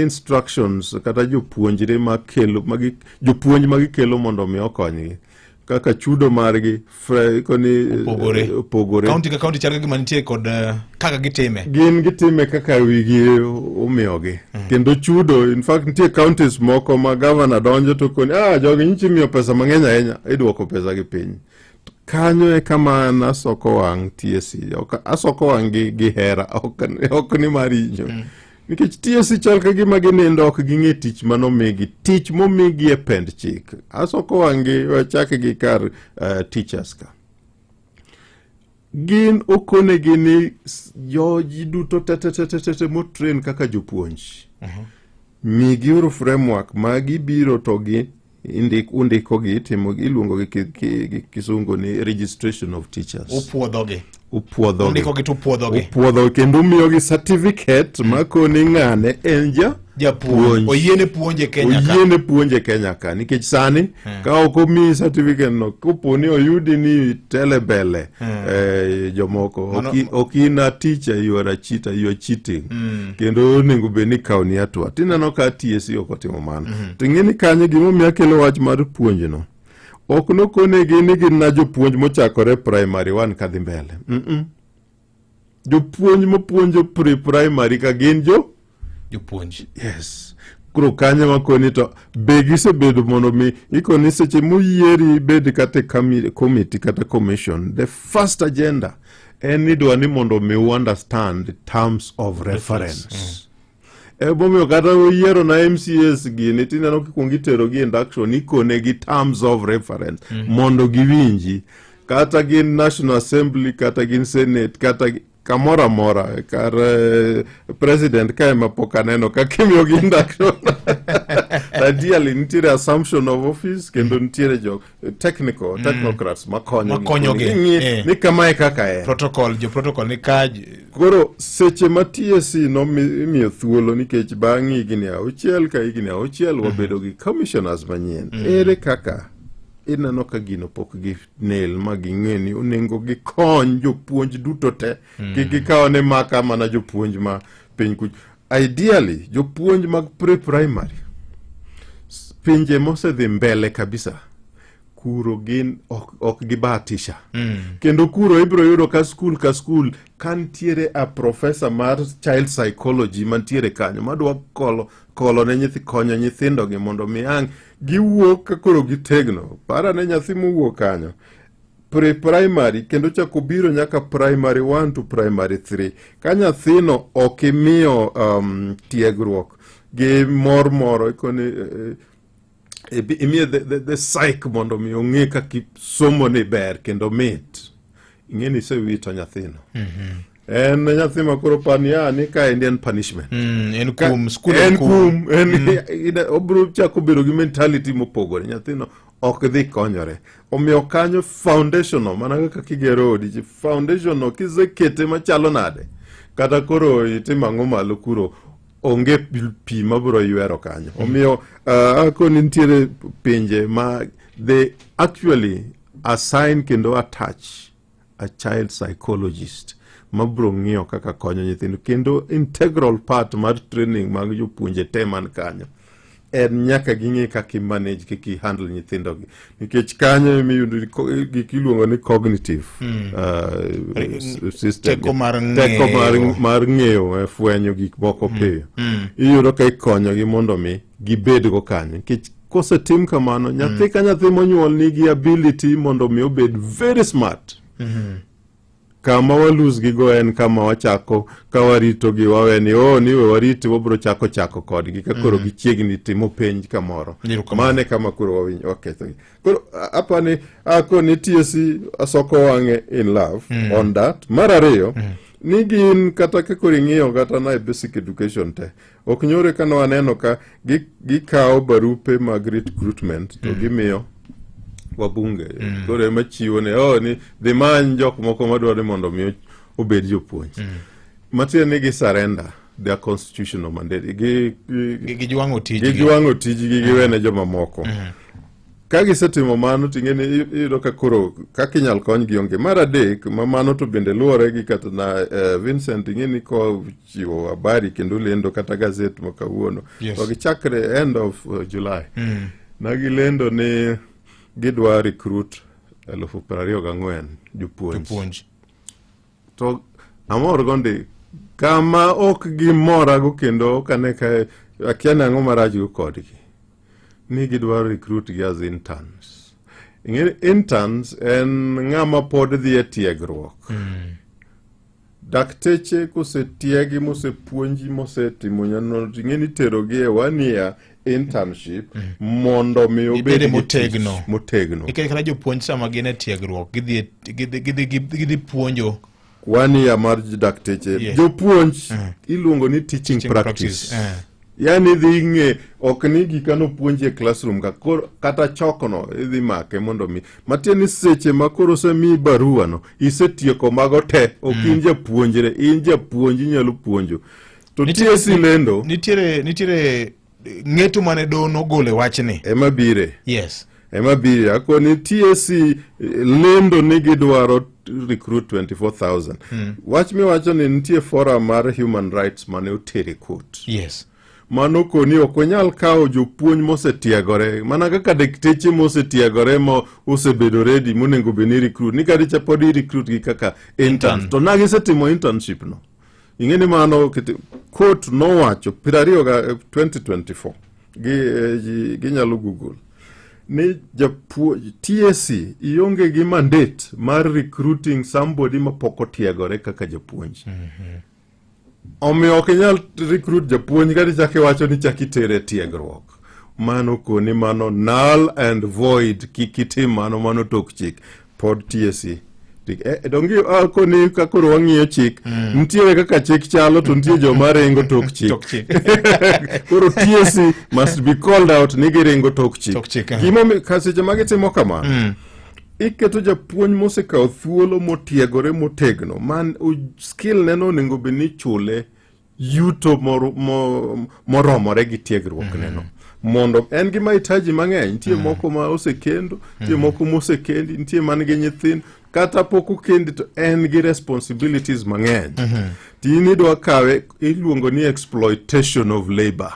instructions kata jopuonjre makelo magi jopuonj ma gikelo mondo mi okonygi kaka chudo margi koni eh, opogore kaunti ka kaunti chalga gima nitie kod eh, kaka gitime gin gitime kaka wigi umiyogi mm. kendo chudo in fact nitie counties moko ma gavana donjo to koni ah jogi nyichi miyo pesa mang'eny ahinya idwoko pesa gi piny kanyo e kama an asoko wang' tiesi asoko wang' gi, gi hera ok, ok ni mar inyo mm. Nikech TSC chal ka gima ginindo ok ging'e tich manomigi, tich momigi e pend chik. Asoko wang'gi wachak gi kar uh, teachers ka. Gin okonegi ni joji duto tetetetete motren kaka jopuonj. Uh mhm. -huh. Migiuru framework ma gibiro to gi indik undikogi timo iluongo gi ki- ki- gi kisungu ni registration of teachers upwodhogi upwodhogi undikogi to upwodhogi upwodho kendo umiyogi certificate makoni ng'ane en ja japuonj oyiene puonje kenya ka oyiene puonje kenya ka nikech sani ka ok omiyi certificate no koponi oyudi ni telebele Hmm. Eh, jomoko Mano- ok in a teacher you are a cheater you are cheating hmm. kendo onego bed ni kawo ni atwa tineno ka TSC ok otimo mano hmm. ting'e ni kanyo gimomiyo akelo wach mar puonjno ok nokonegi ni gin na jopuonj mochakore primary one kadhi mbele mm -mm. jopuonj mopuonjo pre primary ka gin jo jopuonj yes koro kanyo makoni to be gisebedo mondo mi ikoni seche muyieri ibed kata e kami- committee kata commission the first agenda en ni dwa ni mondo mi u understand terms of reference E momiyo kata oyiero na MCS gini tineno kikwong iterogi induction ikone gi terms of reference mm -hmm. mondo giwinji kata gin National Assembly kata gin Senate kata kamoro amora kar eh, president ka ema pok aneno ka kimiyogi induction ideally nitiere assumption of office kendo nitiere jok technical mm. technocrats makonyo makonyogi eh. ni kamae kaka en protocol jo protocol ni kaj koro seche ma TSC nomiyo thuolo nikech bang' higni auchiel ka higni auchiel mm-hmm. wabedo gi commissioners manyien mm. ere kaka ineno ka gino pok gi nel ma ging'e ni onego gikony jopuonj duto te mm. kik gikaw ne maka mana jopuonj ma piny kuch Ideally, jopuonj mag pre-primary pinje mosedhi mbele kabisa kuro gin ok, ok gibatisha mm. kendo kuro ibiro yudo ka skul ka skul ka ntiere a profesa mar child psychology mantiere kanyo madwa kolo, kolo ne nyithi konyo nyithindogi mondo mi ang' giwuok ka koro gitegno para ne nyathi mowuok kanyo pre-primary kendo chako biro nyaka primary 1 to primary 3 ka nyathino ok imiyo um, tiegruok gi mor moro ikoni eh, eh, imiye the, the, the psych mondo mi ong'e kaka somoni ber kendo mit ing'eni isewito nyathino mm -hmm. en nyathi ma koro pania ni ka endi en punishment mm, en kum skul en kum en mm. obiro chako bedo gi mentality mopogore nyathino ok dhi konyore omiyo kanyo foundational mana kaka kigero odi ji foundational kisekete machalo nade kata koro itim ang'o malo kuro onge pi mabiro ywero kanyo mm. omiyo uh, akoni nitiere pinje ma they actually assign kendo attach a child psychologist mabro ng'iyo kaka konyo nyithindo kendo integral part mar training mag jopuonje te man kanyo en nyaka ging'e kaka imanage kaka ihandle nyithindogi nikech kanyo emiyudo gik iluongo ni cognitive hmm. uh, system teko mar ng'eyo eh, fwenyo gik moko hmm. piyo hmm. iyudo ka ikonyogi mondo mi gibedgo kanyo nikech kosetim kamano mm. nyathi ka nyathi monyuol nigi ability mondo mi obed very smart mm-hmm. kama walusgigo en kama wachako ka waritogi waweni o oh, niwe wariti wabiro chako chako kodgi ka koro mm. gichiegni timo penj kamoro mane kama koro wawinj wakethogi koro apani ako nitie si asoko wang'e in love mm. on that mar ariyo mm. ni gin kata ka koro ing'iyo kata na e basic education te ok nyore ka nwaneno ka gikawo barupe mag recruitment to mm. gimiyo wabunge mm. koro ema chiwo ne oh, ni dhi many jok moko madwaro ni mondo mi obed jopuonj mm. matiende ni gisarenda their constitutional mandate gijwang'o tijgi gijwang'o tijgi giwene jomamoko mm. ka gisetimo mano ting'e ni iyudo ka koro kaka inyal konygi onge mar adek ma mano to bende luwore gi kata na uh, vincent ing'e ni ko chiwo habari kendo lendo kata gazet ma kawuono Yes. to gichakre end of uh, july Mm. ne gilendo ni gidwa recruit elufu piero ariyo gang'wen jopuonj Jopuonj. to amor go ndi kama ok gimorago kendo ok ane ka akia ni ang'o marachgo kodgi ni gidwa recruit gi as interns ing'e ni interns en ng'ama pod dhi e tiegruok Mm. Dakteche kosetiegi mosepuonji mosetimo nyanonri ng'e ni terogi e wania internship mm. mondo mi obed motegno motegno e kata jopuonj sama gin e tiegruok gidhi gidhi gidhi gidhi puonjo wania mar dakteche yes. jopuonj mm. iluongo ni teaching, teaching practice, practice. Uh. yani idhi ing'e ok ni gika nopuonji e classroom ka koro kata chokono idhi make mondo mi matie ni seche ma koro osemiyi baruano isetieko mago te ok in mm. japuonjre in japuonj inyalo puonjo to tie silendo nitiere nitiere ng'eto mane do nogole wachni ema bire yes ema biri ako ni TSC eh, lendo ni gidwaro recruit 24000 mm. wach miwacho ni nitie forum mar human rights mane otere court yes mano koni ok wanyal kawo jopuonj mosetiegore mana kaka dakteche mosetiegore ma osebedo redi monego bed ni recruit ni kadicha pod i recruit gi kaka interns to na gisetimo internship no Ing'e ni mano court nowacho piero ariyo ga 2024 eh, ginyalo eh, gi, gi google ni japuo TSC ionge gi mandate mar recruiting somebody ma pok otiegore kaka japuonj. Mm -hmm. Omiyo ok inyal recruit japuonj kati chak iwacho ni chak itere tiegruok. Mano koni mano null and void kik itim mano mano tok chik. pod tiesi tik eh, eh, dongi ah, koni ka koro wang'iyo chik mm. nitiere kaka chik chalo to nitie joma ringo tok chik koro tiesi must be called out ni giringo tok chik eh. gimomiyo ka seche ma gitimo kamano mm. iketo japuonj mosekawo thuolo motiegore motegno man skill neno onego bed ni chule yuto mor- mo- moromore gi tiegruokneno mondo en gi mahitaji mang'eny nitie moko ma osekendo nitie moko mosekendi nitie man gi nyithindo kata pok okendi to en gi responsibilities mang'eny tini idwa kawe iluongo ni exploitation of labor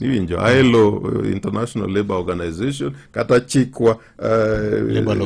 iwinjo ILO eh, international labor organization kata chikwa eh, Labour law.